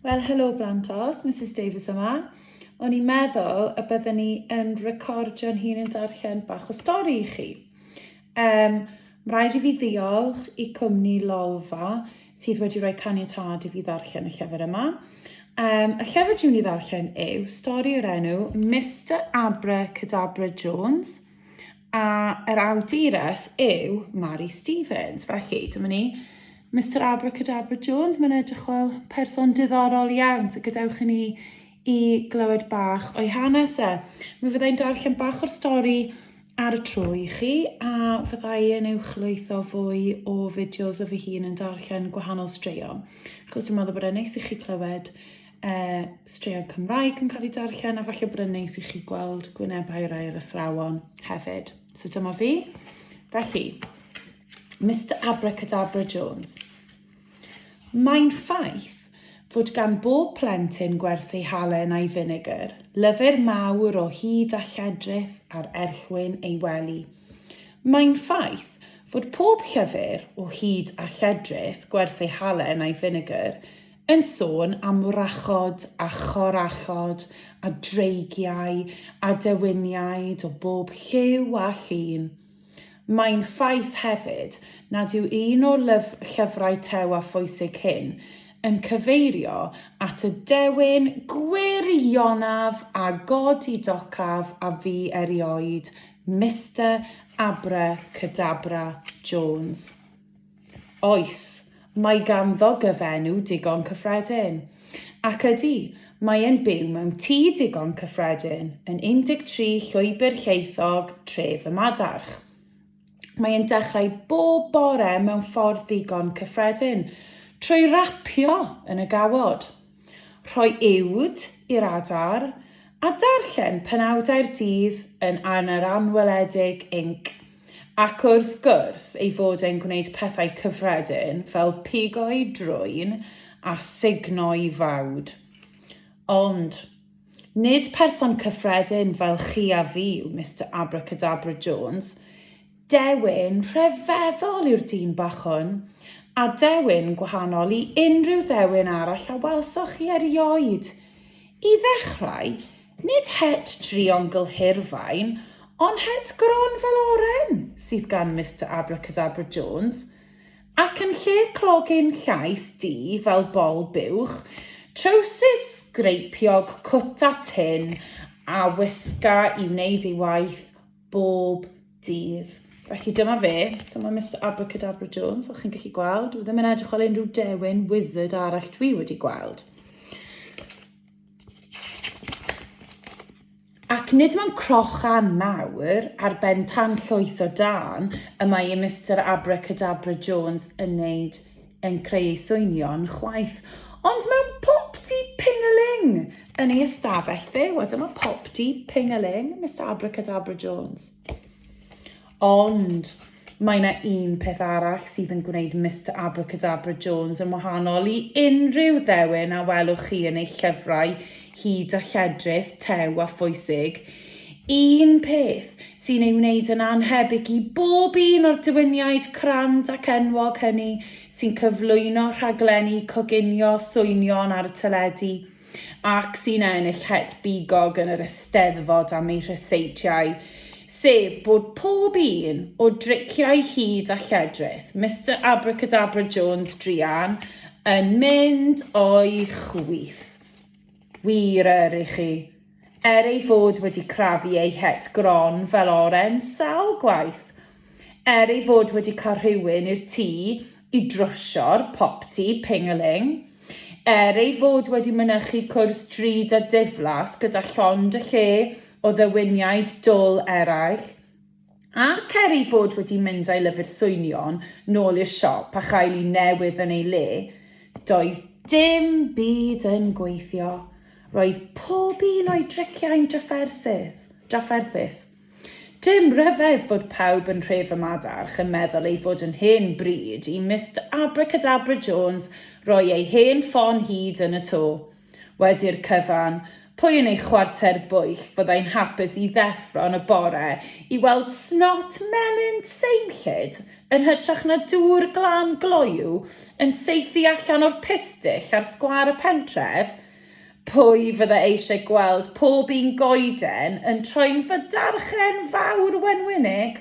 Wel, helo Blantos, Mrs Davies yma. O'n i'n meddwl y byddwn ni yn recordio'n hun yn darllen bach o stori i chi. Um, mae rhaid i fi ddiolch i cwmni Lolfa sydd wedi rhoi caniatad i fi ddarllen y llyfr yma. Um, y llyfr dwi'n ei ddarllen yw stori o'r enw Mr Abra Cadabra Jones A yr awdures yw Mari Stevens. Felly, dyma ni. Mr Abracadabra Jones, mae'n edrych fel person diddorol iawn, so gadewch i ni i glywed bach o'i hanes e. Mi fyddai'n darllen bach o'r stori ar y tro i chi, a fyddai yn uwchlwytho fwy o fideos o fy hun yn darllen gwahanol straeon, achos dwi'n meddwl bod e'n neis i chi clywed uh, straeon Cymraeg yn cael ei darllen a falle bod yn neis i chi gweld gwynebau rai yr athrawon hefyd. So dyma fi. Felly, Mr Abracadabra Jones. Mae'n ffaith fod gan bob plentyn gwerth ei halen a'i finegr, lyfr mawr o hyd a lledrith ar erchwyn ei wely. Mae'n ffaith fod pob llyfr o hyd a lledrith gwerth ei halen a'i finegr yn sôn am wrachod a chorachod a dreigiau a dewiniaid o bob lliw a llun. Mae'n ffaith hefyd nad yw un o lyf llyfrau Tew a Phwysig hyn yn cyfeirio at y dewin gwirionaf a godidocaf a fu erioed Mister Abra Cadabra Jones. Oes, mae ganddo gyfenw digon cyffredin. Ac ydy, mae e'n byw mewn tŷ digon cyffredin yn 13 Llwybr Lleithog, Tref y Madarch. Mae e'n dechrau bob bore mewn ffordd ddigon cyffredin, trwy rapio yn y gawod. Rhoi uwd i'r adar a darllen penawdau'r dydd yn Yr Anweledig Inc. Ac wrth gwrs ei fod e'n gwneud pethau cyffredin fel pigo'i drwyn a sugno'i fawd. Ond, nid person cyffredin fel chi a fi yw Mister Abracadabra Jones. Dewin rhyfeddol yw'r dyn bach hwn, a dewin gwahanol i unrhyw ddewin arall a welsoch chi erioed. I ddechrau, nid het drion gylhirfaen, ond het gron fel oren sydd gan Mister Abracadabra Jones, ac yn lle clog ein llais di fel bol buwch, trowsus sgreipiog cwta tin a wisga i wneud ei waith bob dydd. Felly dyma fe, dyma Mr Abracadabra Jones, fel chi'n gallu gweld. Dwi ddim yn edrych fel unrhyw dewin wizard arall dwi wedi gweld. Ac nid mae'n crochan mawr ar ben tan llwyth o dan y mae i Mr Abracadabra Jones yn wneud yn creu ei swynion chwaith, ond mewn popty pingaling yn ei ystafell fe. Wel, dyma popty pingaling, Mr Abracadabra Jones. Ond mae yna un peth arall sydd yn gwneud Mr Abracadabra Jones yn wahanol i unrhyw ddewin a welwch chi yn ei llyfrau hyd a lledrith, tew a phwysig. Un peth sy'n ei wneud yn annhebyg i bob un o'r diwyniaid crand ac enwog hynny sy'n cyflwyno rhaglenni coginio swynion ar y teledu ac sy'n ennill het bigog yn yr Eisteddfod am eu rhyseitiau, sef bod pob un o driciau hud a lledrith Mister Abracadabra Jones druan yn mynd o'i chwith. Wir yr i chi. Er ei fod wedi crafu ei het gron fel oren sawl gwaith. Er ei fod wedi cael rhywun i'r tŷ i drwsio'r popty ping-a-ling. Er ei fod wedi mynychu cwrs drud a diflas gyda llond y lle o ddewiniaid dwl eraill. Ac er ei fod wedi mynd â'i lyfr swynion nôl i'r siop a chael un newydd yn ei le, doedd dim byd yn gweithio. Roedd pob un o'i driciau'n drafferthus. drafferthus. Dim rhyfedd fod pawb yn rhef y madarch yn meddwl ei fod yn hen bryd i Mist Abracadabra Jones roi ei hen ffon hyd yn y to. Wedi'r cyfan, pwy yn ei chwarter bwyll fyddai'n hapus i ddeffro yn y bore i weld snot melyn seimllyd yn hytrach na dŵr glan gloyw yn saethu allan o'r pistyll ar sgwâr y pentref? Pwy fydda eisiau gweld pob un goeden yn troi'n fydarchen fawr wenwynig?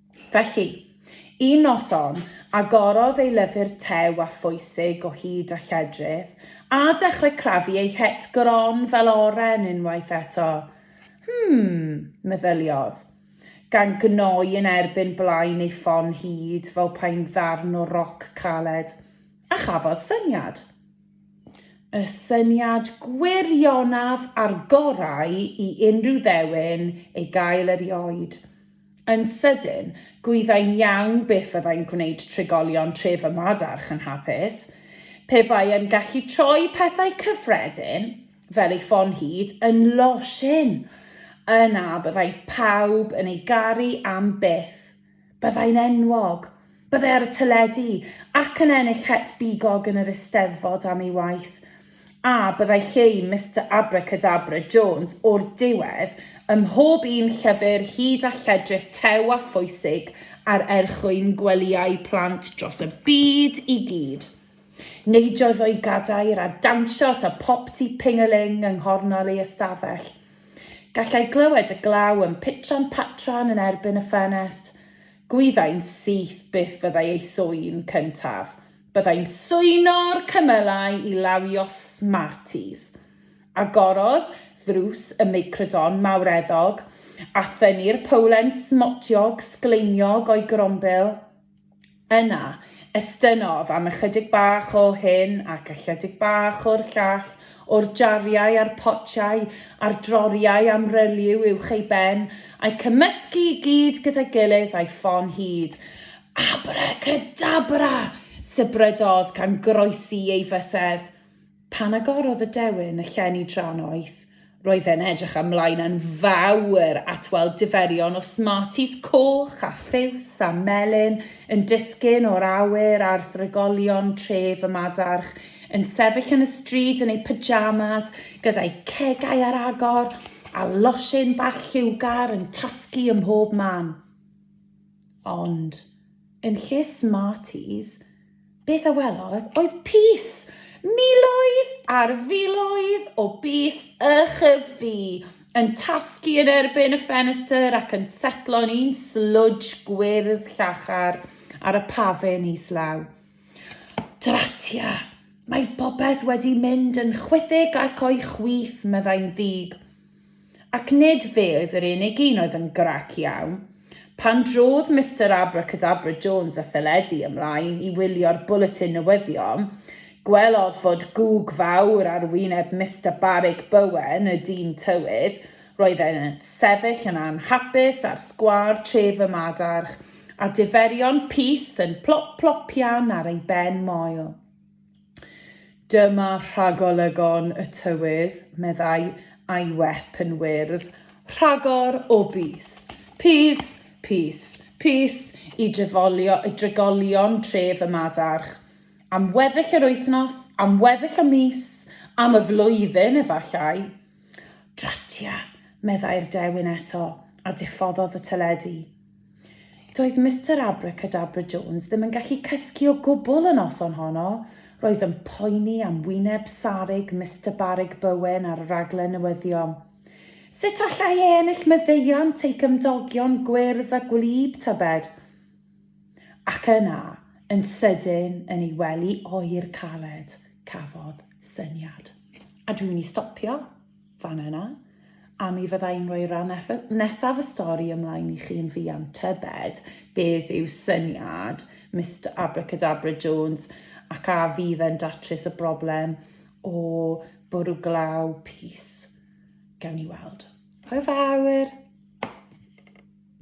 Felly, un noson, agorodd ei lyfr tew a phwysig o hyd a lledrith, a dechrau crafu ei het gron fel oren unwaith eto. Hmm, meddyliodd, gan gnoi yn erbyn blaen ei ffon hud fel pai'n ddarn o roc caled, a chafodd syniad. Y syniad gwirionaf a'r gorau i unrhyw ddewin ei gael erioed, Yn sydyn, gwyddai'n iawn beth fyddai'n gwneud trigolion tref y Madarch yn hapus. Pe bai yn gallu troi pethau cyffredin, fel ei ffon hud, yn losin, yna byddai pawb yn ei garu am byth. Byddai'n enwog. Byddai ar y teledu, ac yn ennill het bigog yn yr Eisteddfod am ei waith. A byddai lle i Mister Abracadabra Jones o'r diwedd ym mhob un llyfr hyd a lledrith tew a phwysig ar erchwyn gwelyau plant dros y byd i gyd. Neidiodd o'i gadair a dawnsio at y popty ping-a-ling yng nghornel ei ystafell. Gallai glywed y glaw yn pitran patran yn erbyn y ffenest. Gwyddai'n syth beth fyddai ei swyn cyntaf. Byddai'n swyno'r cymylau i lawio Smarties. Agorodd ddrws y meicrodon mawreddog a thynnu'r powlen smotiog sgleiniog o'i grombil. Yna, estynnodd am ychydig bach o hyn ac ychydig bach o'r llall o'r jariau a'r potiau a'r droriau am relyw uwch ei ben, a'i cymysgu i gyd gyda'i gilydd a'i ffon hyd. Abracadabra! sybrydodd gan groesi ei fysedd. Pan agorodd y dewin y llenni dra'n oeth, roedd e'n edrych ymlaen yn fawr at weld diferion o Smarties coch a phiws a melyn yn disgyn o'r awyr ar ddragolion tref y Madarch Yn sefyll yn y stryd yn ei pyjamas, gyda'i cegau ar agor a losin bach lliwgar yn tasgu ym mhob man. Ond, yn lle Smarties, beth a welodd oedd pys! Miloedd ar filoedd o bys ychydig yn tasgu yn erbyn y ffenestr ac yn setlo'n un slwdj gwyrdd llachar ar y pafin islaw. Dratia! Mae popeth wedi mynd yn chwithig ac o'i chwith, meddai'n ddig. Ac nid fe oedd yr unig un oedd yn grac iawn. Pan drodd Mister Abracadabra Jones a Pheledi ymlaen i wylio'r bwletin newyddion, gwelodd fod gwg fawr ar wyneb Mister Barig Bowen, y dyn tywydd. Roedd e'n sefyll yn anhapus ar sgwâr tref y Madarch, a diferion pys yn plop plopian ar ei ben moel. Dyma rhagolygon y tywydd, meddai Aiwep yn wyrdd, rhagor o bys. Pys, pys, pys i drefolio, i dregolion tref y Madarch. Am weddill yr wythnos, am weddill y mis, am y flwyddyn efallai. Dratia, meddai'r dewin eto, a diffoddodd y teledu. Doedd Mister Abracadabra Jones ddim yn gallu cysgu o gwbl y noson honno. Roedd yn poeni am wyneb sarug Mister Barug Bowen ar y raglen newyddion. Sut allai e ennill maddeuant ei gymdogion gwyrdd a gwlyb, tybed? Ac yna, yn sydyn, yn ei wely oer caled, cafodd syniad. A dwi'n mynd i stopio. Fan yna, a mi fydda i'n rhoi ran nesaf y stori ymlaen i chi yn fuan, tybed beth yw syniad Mister Abracadabra Jones ac a fydd e'n datrys y broblem o bwrw glaw pys? Gawn ni weld. Hwyl fawr!